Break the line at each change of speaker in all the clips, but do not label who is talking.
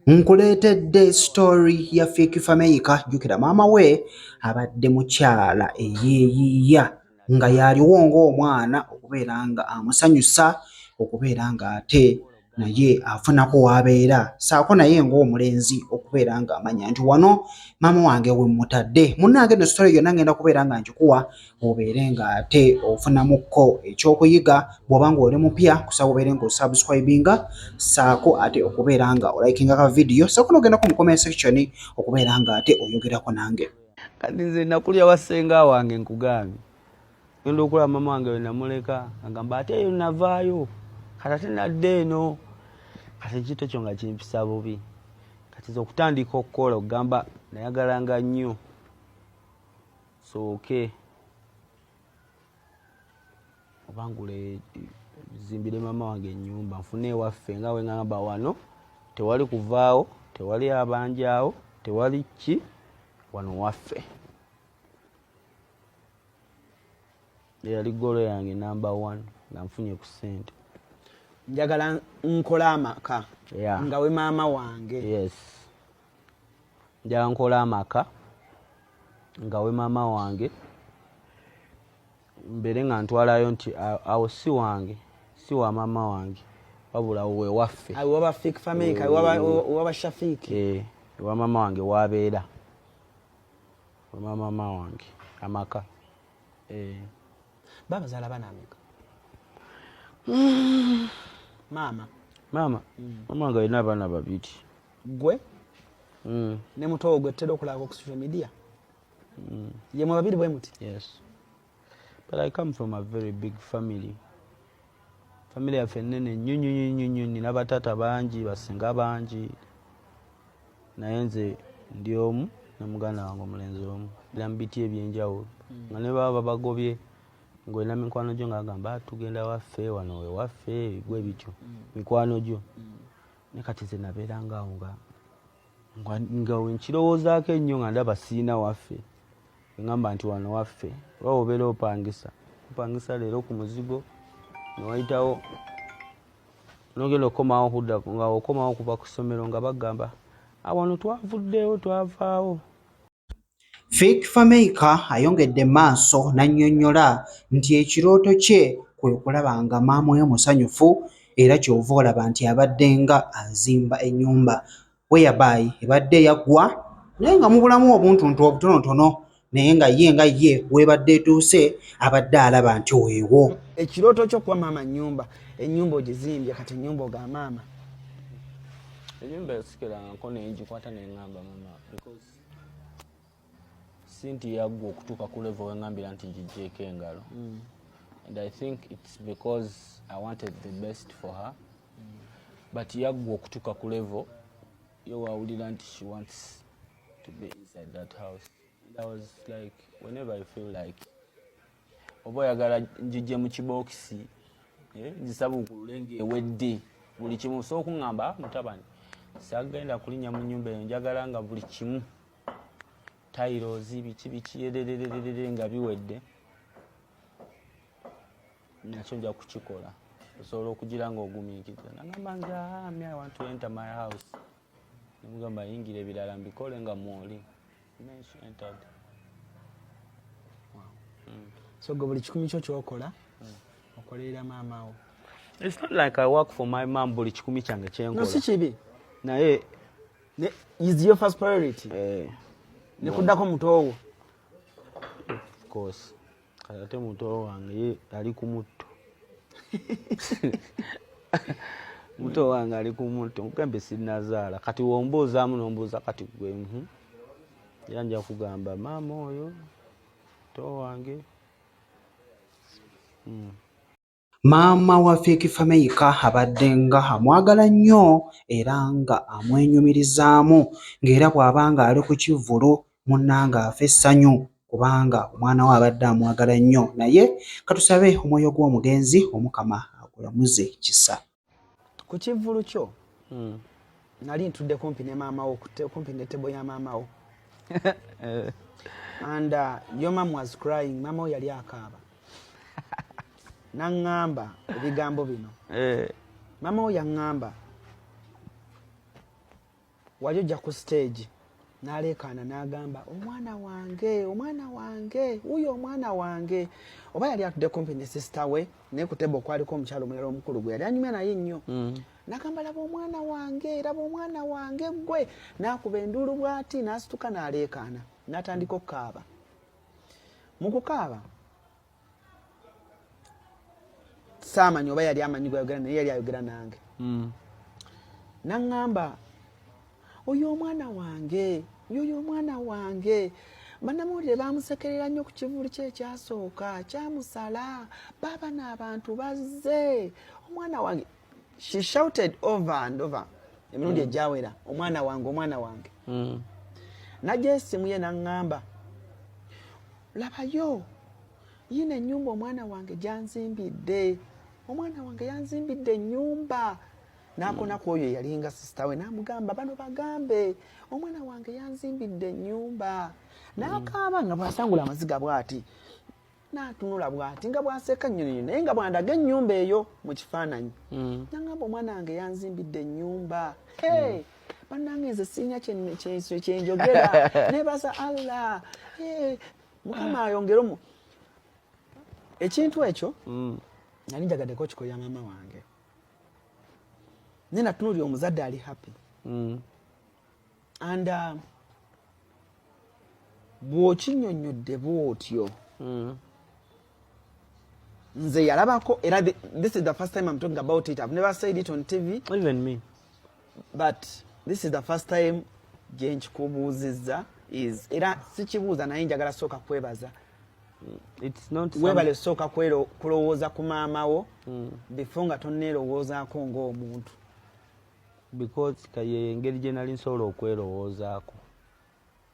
Nkuleetedde sitoli ya Fik Fameica. Jjukira maama we abadde mukyala eyeeyiiya nga yaliwo ng'omwana okubeera ng'amusanyusa okubeera ng'ate naye afunako w'abeera ssaako naye ng'omulenzi okubeera ng'amanya nti wano maama wange we mmutadde. Munnange eno sitole yonna ng'enda kubeera nga ngikuwa obeere ng'ate ofunamukko ekyokuyiga bw'oba ng'oli mupya kusaba obeere ng'osubscribinga saako ate okubeera nga olikinga ka vidiyo saako n'ogendako mu comment section okubeera ng'ate oyogerako nange kati nze
nakulya wasenga wange nkugambye genda okulaba mama wange we namuleka agamba ate eyo navaayo kati ate nadde eno kati ekintu ekyo nga kimpisa bubi kati nze okutandika okukola okugamba nayagalanga nnyo sooke obangule zimbire maama wange enyumba nfune ewaffe nga wengamba wano tewali kuvaawo tewali abanjaawo tewali ki wano waffe eyali golo yange namba one nga nfunye ku sente njagala
nkola amaka yeah. nga we maama wange yes.
njala nkola amaka nga we maama wange mbeere nga ntwalayo nti awo si wange si wa maama wange wabula
wewaffe ewa maama wange
wabeera wamamaama wange amaka eh.
babazala bana ameka maama maama
mm. maama wange alina abaana babiri gwe
mm. ne mutowo gwe tutera okulaba ku social media mm. ye mwe babiri bwe muti yes
but i come from a very big family family yaffe nene nnyo nnyo nnyo nnyo nnyo nina bataata bangi basinga bangi naye nze ndi omu ne muganda wange omulenzi omu biramu biti ebyenjawulo mm. nga ne baba babagobye ngolina mikwano gyo nga agamba ah, tugenda waffe wano wewaffe bigwe bityo mm. mikwano gyo mm. ne kati ze nabeeranga awo nga nga wenkirowoozaako ennyo nga ndaba siina waffe engamba nti wano waffe oba obeera opangisa opangisa leero ku muzigo newayitawo nogenda okukomawo okudda nga okomawo okuva ku ssomero nga bagamba awano twavuddewo twavaawo
Fik Fameica ayongedde maaso n'annyonnyola nti ekirooto kye kwe kulaba nga maama we musanyufu era ky'ova olaba nti abaddenga azimba ennyumba whereby ebadde yaggwa naye nga mubulamu obuntuntu obutonotono naye nga ye nga ye w'ebadde etuuse abadde alaba nti weewo. Ekirooto kyo kuba
maama nnyumba, ennyumba ogizimbye kati ennyumba oga maama.
Ennyumba yasikirangako ne ngikwata ne ng'amba maama. sinti yaggwa okutuuka ku levo wengambira nti gijeeko engalo mm. and i think its because i wanted the best for her mm. but yaggwa okutuuka ku levo yo wawulira nti she wants to be inside that house and i was like whenever i feel like oba oyagala njijje mu kibookisi eh, nzisabuukulule ngaewedde buli kimu so okuŋŋamba ah, mutabani sagenda kulinnya mu nnyumba eyo njagala nga buli kimu tairozi biki biki ererererere nga biwedde nakyo nja kukikola osobola okugira nga ogumiikiriza nagamba nze ah, mi i want to enter my house nemugamba yingira ebirala mbikole nga mwoli then she entered
mm. so gwe buli kikumi kyo kyokola mm. okolerera maama wo it's not like
i work for my mom buli kikumi kyange kyenkola no si kibi
naye
ne
is your first priority eh, ne kuddako muto wo
of course kati ate muto wange ye ali ku mutto muto wange ali ku mutto nkugambe sinazaala kati wombuuzaamu nombuuza kati gwe mhm. era nja kugamba maama oyo muto wange mm.
Maama wa Fik Fameica abadde nga amwagala nnyo era nga amwenyumirizaamu ng'era bw'aba ng'ali ku kivvulu munnange afa essanyu kubanga omwana we abadde amwagala nnyo naye katusabe omwoyo gw'omugenzi Omukama agulamuze kisa. ku
kivvulu kyo hmm. nali ntudde kumpi ne maamawo kumpi ne tebo ya maamawo and uh, your mom was crying maamawo yali akaaba naŋŋamba ebigambo bino eh. maamawo yaŋŋamba Wali ojja ku stage n'aleekaana n'agamba omwana wange omwana wange wuyo omwana wange oba yali atudde kumpi ne sisita we naye ku tebo okwaliko omukyalo omulala omukulu gwe yali anyumya naye nnyo mm. nagamba laba omwana wange laba omwana wange gwe n'akuba enduulu bw'ati n'asituka n'aleekaana n'atandika okukaaba mu kukaaba saamanya oba yali amanyi gwayogera naye yali ayogera nange hmm. naŋŋamba oyo omwana wange yoyo omwana wange banamawulire bamusekerera nnyo ku kivulu kye ekyasooka kyamusala baaba n'abantu bazze omwana wange she shouted over and over emirundi hmm. egyawera omwana wange omwana wange hmm. najja esimu ye naŋŋamba labayo yino enyumba omwana wange gyanzimbidde omwana wange yanzimbidde enyumba nakona ku oyo eyalinga sisita we namugamba bano bagambe omwana wange yanzimbidde enyumba nakaaba nga bwasangula amaziga bwati natunula bwati nga bwaseka nyonyo naye nga bwandaga enyumba eyo mu kifaananyi mm. nangamba omwana wange yanzimbidde enyumba mm. bannange nze sirina kyenjogera nebaza allah eh, mukama ayongere omu ekintu ekyo mm. nali njagaddeko okikoya maama wange naye natunulira omuzadde ali happy mm. and uh, bw'okinyonnyodde bw'otyo mm. nze yalabako era this is the first time i'm talking about it i've never said it on tv even me
but
this is the first time gyenkikubuuzizza is era sikibuuza naye njagala sooka kwebaza
webale sooka
kulowooza ku maama wo mm. before nga toneerowoozaako ngaomuntu
because kaye engeri gye nali nsobola okwerowoozaako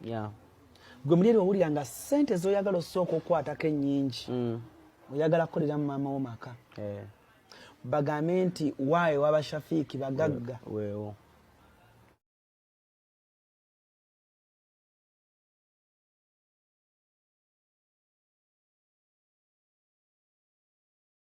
yeah.
gwe mulyeri wawulira nga sente zoyagala osooka okukwatako enyingi mm. oyagala kukolera mu maama wo maka eh. bagambe nti
waayo
waba shafiiki bagagga wewo